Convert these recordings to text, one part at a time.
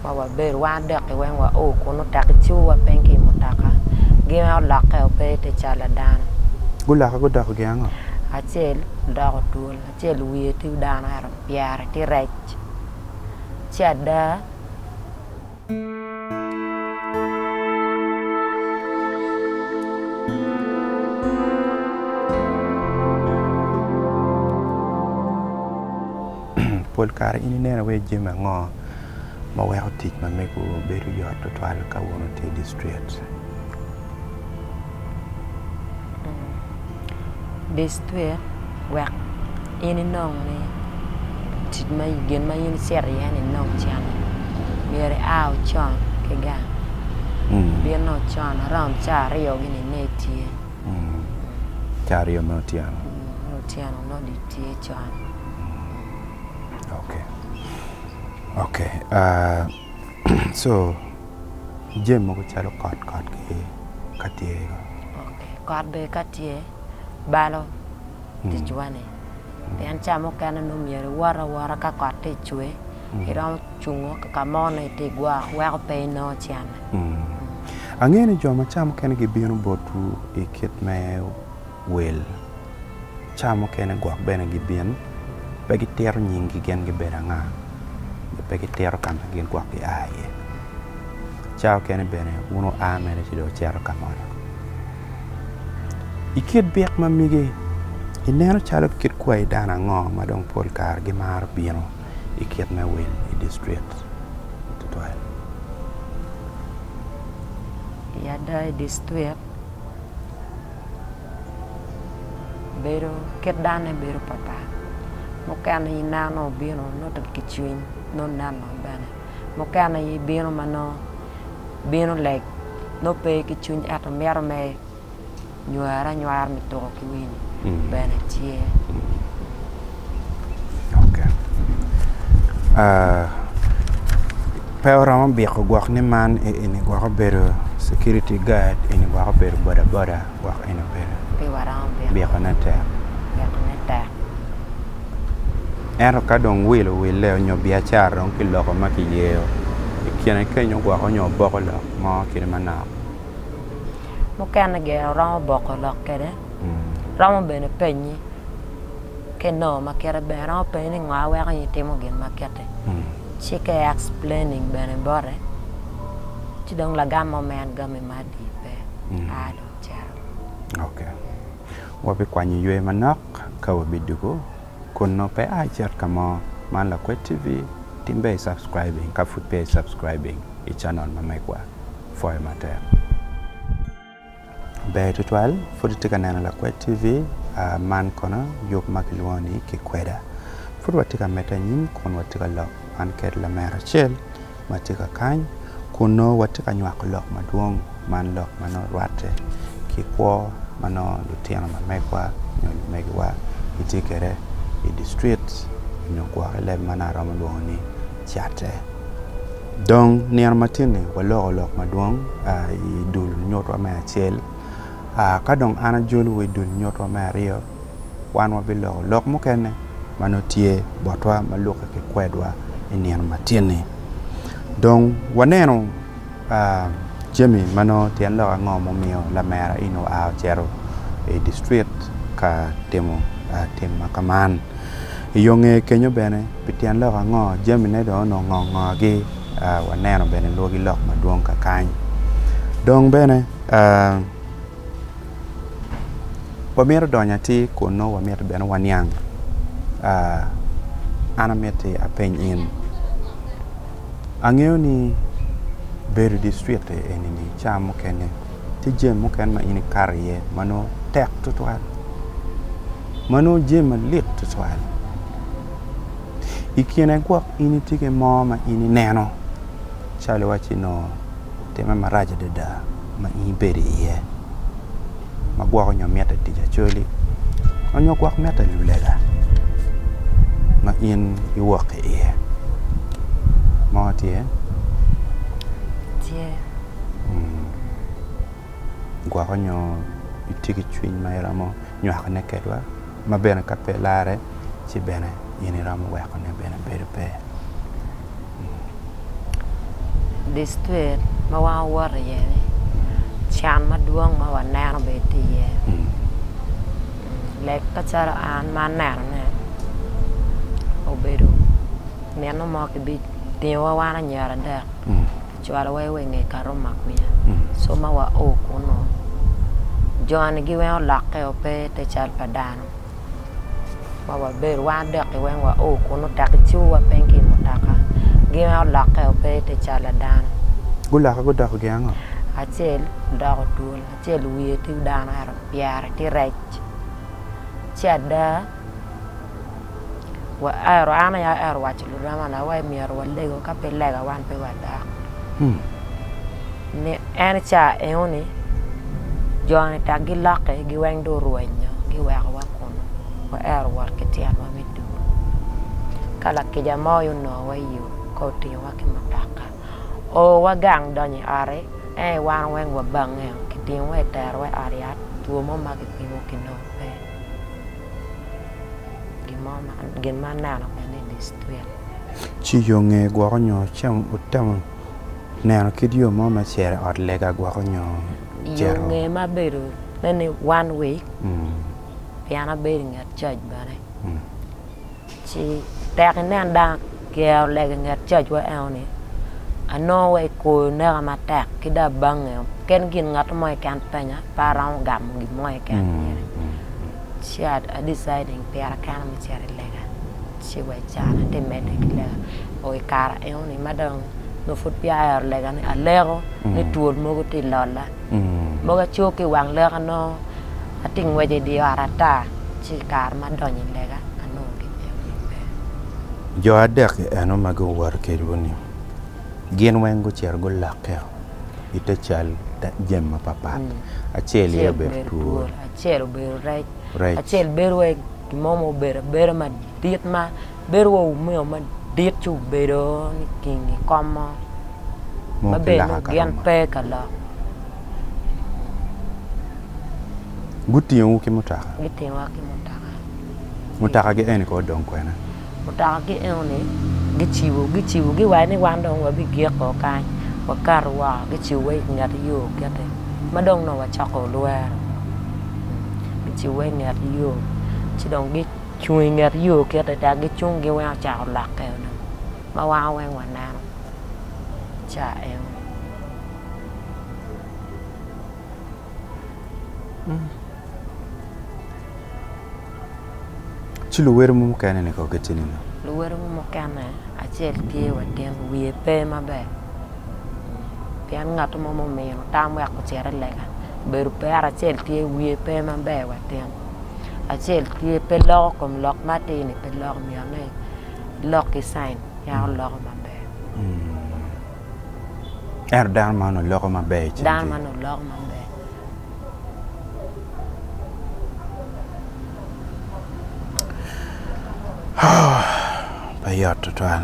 ma wabedo wan adek-ki weng wa o kun nongo taki cibowa piny ki i mutoka gin weng olokke wa pe te cal pa dano gulokke gudoko gin ango? acel odoko twol acel wiye tye dano ento pyere tye rec ci ada Pol kare in ineno iye jami ango ma weko tic ma mego bedo yot tutwal ka wun wutye i distriet? Distriet wek in inong ni tic ma gin ma in icito iye ni inong cente myero ia ocon ki gang, ibino ocon around caa aryo gini ine itye. Caa aryo me otyeno. Me otyeno nongo dong itye con. Okee okee aah co jami mogo calo kot kot gi ka tye kong. Okee kot bene ka tye balo ticwa ni pien caa mukene nongo myero iwot awota ka kot tye icwer iromo cungo kaka mo nongo itye igwoko weko pe inongo cen. Angeyo ni jo ma ca mukene gibino botwu i kit me wel, ca mukene gwok bene gibin, pe gitito nyinggi gin gibedo anga, nyo pe gitito ka ma gin gwok gia iye. Ca okene bene wun wua mere ci dong wucito ka moni. I kit byek ma migi, ineno calo kit kwayi dano ango ma dong pol kare gimaro bino? i kit me wil i distrikt tutwal. I ada i distrikt bedo kit dane bedo papat mukene i neno nongo obino nongo ki cwiny nongo neno bene mukene i bino ma nongo bino late nongo pe ki cwiny ento mito me Nywar anywar me tuko ki wil bene tye. Pe oromo biko gwok ni man eni gwok obedo security guard eni gwok obedo boda boda gwok eni obedo biko ne tek ento ka dong wil owille nyo biacara dong ki loko ma kiyeyo ikine kenyo gwok onyo oboko lok mo kit manok. mukene gin romo boko lok kwede romo bene penyi ka inongo ma kite ber romo penyi ni ngo ma weko in itimo gin ma kiti ci ka i explaining bene bote ci dong lagam mo ma en gami madi pe a dong cito. Ok wabikwanyo ywe manok ka wabidwogo kunnu pe a icit ka mo. Man Lakwed TV, timbe i subscribing ka pud peya i subscribing i channel ma megwa. Pwoyo matek. Ber tutwal, pud itye ka neno Lakwed TV, man kono yub ma kilwongo ni Kikweda. Pud watye ka medde anyim kun watye ka lok man kede lamera acel ma tye ka kany kun nongo watye ka nywako lok madwong, man lok ma nongo rwatte ki kwo ma nongo lutino ma megwa nyo lumegiwa gitye kede i distrit nyo gwok i leb ma nongo aromo lwongo ni. catte. Dong nino matinni waloko lok madwong i dul nyutwa me acel. Ka dong an ajolowu i dul nyutwa me aryo, wan wabiloko lok mukene ma nongo tye botwa ma lukke ki kwedwa i nino matinni. Dong waneno. Jami ma nongo tyen lok ango mumiyo lamera in oa ocito i dictrik ka timo tim ma kaman? I yo nge kenyo bene, pi tyen lok ango jamine dong onongo ngo ngo gi waneno bene lwogi lok madwong kakany? Dong bene wamito donyo atir kun nongo wamito bene waniang? An amiti apeny in. Angeyo ni bedo i district-ti eni-ni cawa mukene tye jami mukene ma in ikato iye ma nongo tek tutwal, ma nongo jami malit tutwal. I kine gwok in itye ki mo ma in ineno calo iwacci nongo timme marac adada ma in ibedo iye. ma gwoko nyo mitte tic acoli onyo gwok mitte lulega ma in iwok ki iye mo tye? Tye. Gwoko nyo itye ki cwiny ma iromo nywakone kedwa ma bene ka pe larre ci bene in iromo weko ne bene bedo pe district ma wan wawoto iye ni can madwong ma waneno bene tye iye lek macalo an ma aneno ne obedo mino mo ki bi tingo wa wan anyira adek cwalo wa i we nge kato makuya soma wa o kuno joni gi weng olokke o pe te cal pa dano ma wa bedo wan adek gi weng wa o kuno tek i ciwu wa ping ki i mutaka gi weng olokke o pe te cal pa dano Gulokke gudoko gin ango? Acel odoko twol acel wiye tye dano ento pyere tye rec ci ada. an aye aero waco luramana ni awaco ni myero walego ka pe lega wan pe wadok en ca enoni joni dok gilokke gi weng dong orwenyo giweko wa kunu waero wot ki tyenwa me dul ka lakica mo aye onongo wa iyo ka otingo wa ki mutoka oo wa gang donyo i ot en aye wan weng wabange kitingo wa kitero wa i ot yat two mo ma kipimo kinongo pe. gin ma aneno mene i district. Ci yo nge gwoko nyo ci wutemo neno kit yo mo me cito i ot lega gwoko nyo cito? Yo nge ma abedo ne ni one week pien abedo inget cac bene. Ci tek inen dano giyero lega i nget cajwa enoni, anongo wa i koyo neka matek ki dong abange keken gin ngat mo keken penya pe aromo gamo gin mo keken myero ci a decide pira kena me cito i lega ci wa i can ati mede ki lega oo i kara enoni ma dong nongo pud peya ayero lega ni aleko ni twol mogo ti lolla Mogo acoo ki i wang lek anongo atye ka ngwec i dye ot ata ci i kare ma adonyo i lega anongo gimyero gilubbe. Jo adek-ki eno ma guwoto kedwu-ni gin weng gucito gulakke i te cal jami mapatpat. Acel aye obedo twol. Acel obedo rec. Acel bedo wai gin mo ma obedo abeda madit ma. bedo wa wumiyo madit ci wubedo niking i kom mo ma bene nongo gin pe ka lok. Gutingowu ki mutoka? Gitingowa ki mutoka. Mutokagi eni kong odong kwene? Mutokagi enoni gicibo gicibogi wa ni wan dong wabigik o kany wakato woko gicibowa i nget yo kiti ma dong nongo wacoko lwero. Gicibowa i nget yo ci dong cung i nget yo kite dok gicung giweng ocako lokke onongo ma wan weng waneno ca eno ci luwedo mo mukene ni kogi tye nino luwedo mo mukene acel tye watin wiye pe maber pien ngat mo mumino tam wek ocit i lega obedo pera acel tye wiye pe maber watin acel tye pe loko kom lok ma atir-ni pe loko myero ni ilok ki cain ya oloko maber ento dano man onongo loko maber i cingi dano man onongo loko maber pe yot tutwal.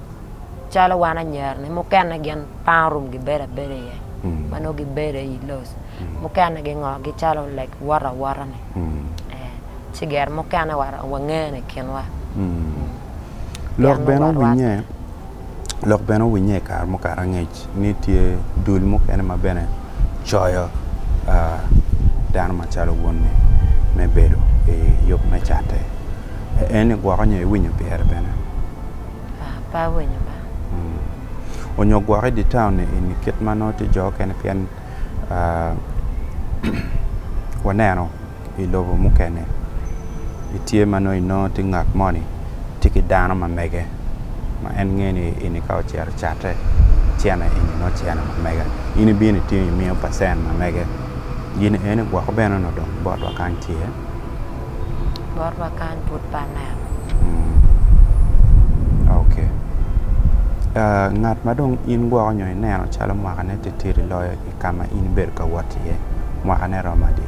calo wan anyira ni mukene gin pang orum gibedo abeda iye ma nongo gibedo i loc mukene gingo gicalo like wot awota ni eh, ci gire mukene wa wangene i kinwa Lok Yan bene warwar. owinye Lok bene owinye i kare mukato angec ni tye dul mukene ma bene coyo ah, dano macalo wonni me bedo i yub me catte. En-ni gwoko nyo iwinyo pire bene? Pe awinyo ba. Onyo gwok i dye taun eni kit ma nongo tye jo okene pien waneno i lobo mukene tye ma nongo inongo tye ngat moni tye ki dano ma mege ma en ngeyo ni eni ka ocito ocate cene eni nongo cene ma mega in ibino itingo imiyo pacen ma mege gin eni gwoko bene onongo dong botwa kany tye. Bot wa kany pud pe aneno. Ok. Uh, ngat ma dong in gwoko nyo ineno calo mwakane titidi loyo i ka ma in ibedo ka wot iye, mwakane romo adi?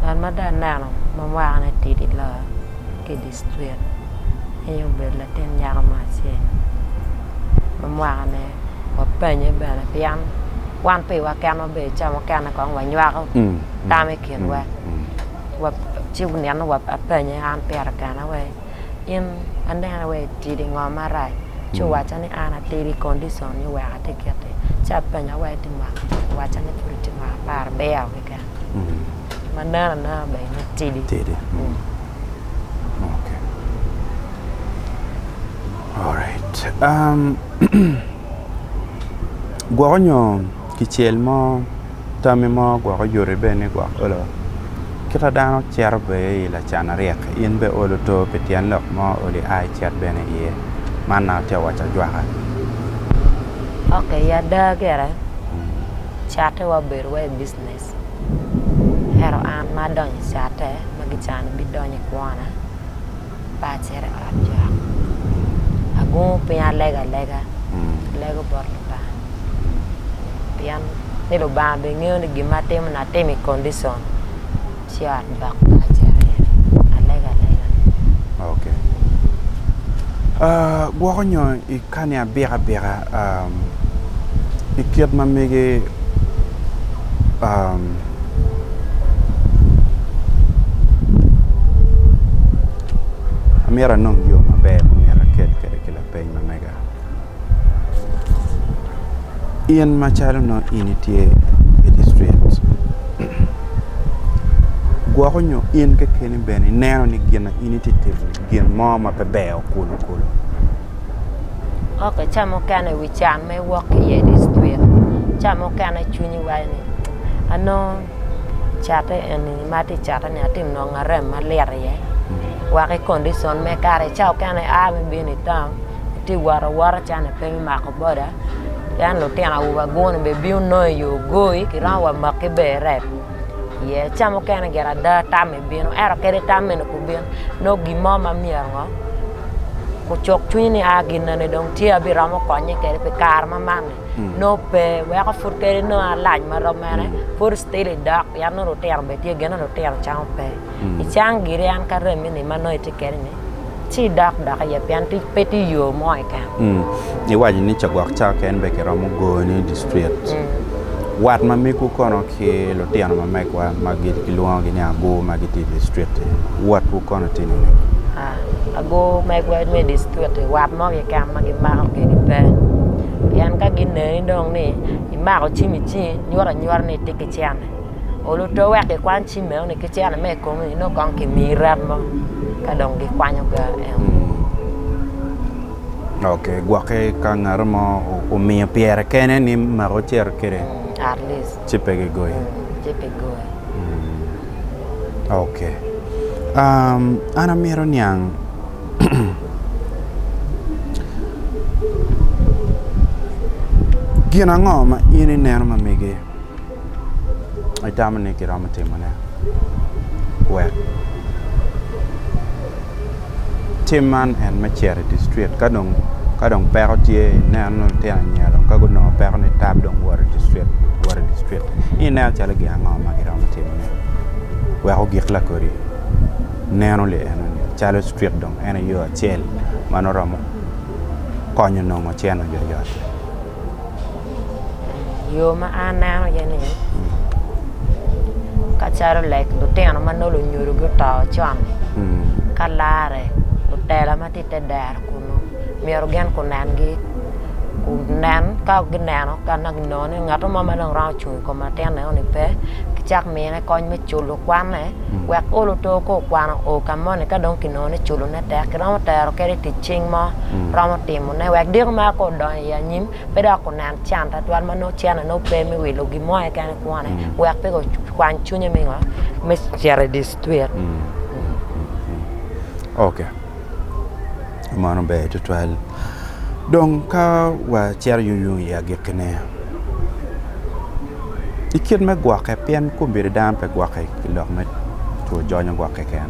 Ngat ma dong aneno ma mwakane tidi loyo ki Street, en aye obedo latin nyako mo acel ma mwakane wapanye bene pien wan piwa keken wabedo ica mukene kong wanywako tam i kinwa ci nino apanye an pire kena wai in anene wai itidi i ngo marac ci owacca ni an atidi i condition ni wek atye kiti ci apenya wai iwaca ni pud itye mwaka apar aryo. keken ma nen anena bene ni tidi tidi okay alright um gwoko nyo kicel mo tami mo gwoko yoti bene ni gwok olo kit ma dano cito bene i lacan aryek in bene olo to pi tyen lok mo ma olo ia icit bene iye man na atye ka waco ajwaka. Okay ada gire Catte wa obedo wa i business ento an ma adonyo i catte ma gicano bidonyo i kwona pe acito i ot jok agungu piny alego alega alego bot Lubanga pien ni Lubanga bene ngeyo ni gin ma atimo ni atimo i condition. Cat dok Kacere Alegalega. Okay. Uh, gwoko nyo i kani abika abika um, i kit ma mege um, amyero anong yo maber ma myero aked kede ki lapeny ma mega. In macalo nongo in itye Majistrec gwoko nyo in kekeni bene ineno ni gin ma in itye ka timoni gin mo ma pe ber kulu kulu? Ca mukene i wi can ma iwok ki iye i distric ca mukene cwinyi waco ni anongo catte eni ma atye ka cateni atye ka nongo arem malit iye wek ki kondicon me kare. atye ka wot awota calo ni pe me mako boda pien lutino awobe agunu bene bino nongo i yo goi kiromo wa maki bene i rek ye ca mukene gire ada tammi bino ento kadi tam meno pe obino nongo gin mo ma myero ngo ocuk cwiny ni aa gin nene dong tye abiromo konye kede pi kare ma man-ni nongo pe weko pud kadi nongo alac ma romo mene pud ctil idok pien nongo lutino bene tye gine lutino camo pe icang giri an ka remmi ni ma nongo itye kede ni ci idok doki iye pien pe tye yo mo keken. Mm. Iwaco ni cagwok cao keken be kiromo goni i district. Mm. Wat ma megu kono ki lutino ma megwa ma kilwongogi ni agur ma gitye i district-ti, watwu kono tye nini? Ah, agur megwa me district-ti wat mo keken ma gimako kwede pe. Pien ka gineni dong ni imako cim i cingi nyuto anyuta ni itye ki cente. oluto wek gikwan cim meno ni ki cene me ikomi inongo kong ki mii rab mo ka dong gi kwanyo ga eno ok gwoke ka ngato mo omiyo pyere kene ni mako cito kede ci pe gi goyi ci pe goyi ok an amito niang gin ango ma in ineno ma mege itamo ni kiromo timone wek tim man en me cito i dye cuk ka dong ka dong peko tye ineno ni litino anyira dong ka gunongo peko ni tab dong wot idye cuk wot idye cuk in ineno calo gin ango ma kiromo timone wek ogik lakodi neno li eno ni calo cuk dong en aye yo acel ma nongo romo konyo nongo cen oyot yot. Yo ma an aneno iye ni kacalo lek lutino ma nongo lunyodo guto con ka larre lutela ma tye i te dero kunu myero gin kunengi kunen ka gineno ka nongo ginongo ni ngat mo ma dong romo cung i kom latin eno ni pe gicak mine kony me culo kwanne wek olo oto ka okwano o ka moni ka dong kinongo ni culone tek kiromo tero kwede itic cing mo romo timone wek diko mere ka odongo i anyim, pe dok onen can twatwal ma nongo cene nongo pe me wilo gin mo keken kwone wek pe okwany cwinye me ngo me cito i dictwit. Ok mano ber twatwal dong ka wacito yung yung i agikkine i kit me gwokke pien kombeddi dano pe gwokke ki lok me two jonyo gwok keken.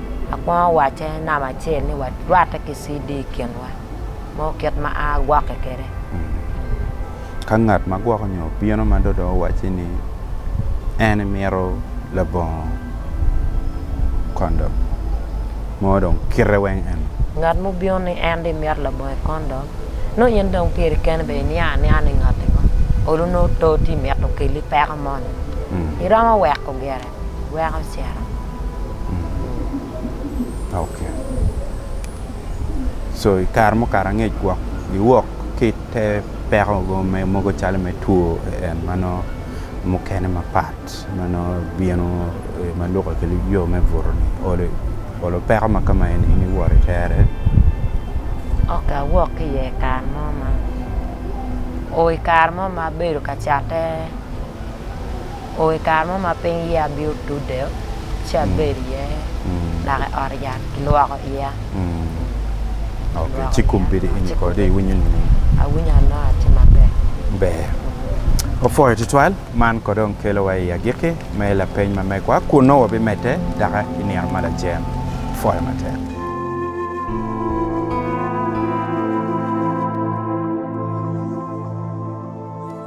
Akwongo wacce namba acel ni warwatte ki CD i kinwa mo kit ma a gwokke kwede. Ka ngat ma gwoko nyo obino ma do dong owacci ni en mito labongo kondom mo dong kite weng eno. Ngat mubino ni en dong imito labongo kondom nongo in dong pyeri kene bene iniang anianga ni ngati ngo olu nongo to tye mito keli peko moni iromo weko gire. weko cito. Ok so i kare mukato angec gwok giwok ki te peko me mogo calo me two en ma nongo mukene mapat ma nongo bino ma lukke ki yo me buto ni olo olo peko ma ka ma eni in iwot itere? Ok awok ki iye kare mo ma oo i kare mo ma abedo ka cate o i kare mo ma piny yeya bino tudde ci abedo iye dok i ot yat kilwoko iya. Ci kombeddi in kong dong iwinyo nining? Awinyo anongo atye maber. Ber. Opwoyo tutwal. Man kono dong kelowa i agikki me lapeny ma megwa kun nongo wabimedde doki i nino ma lajeng. Pwoyo matek.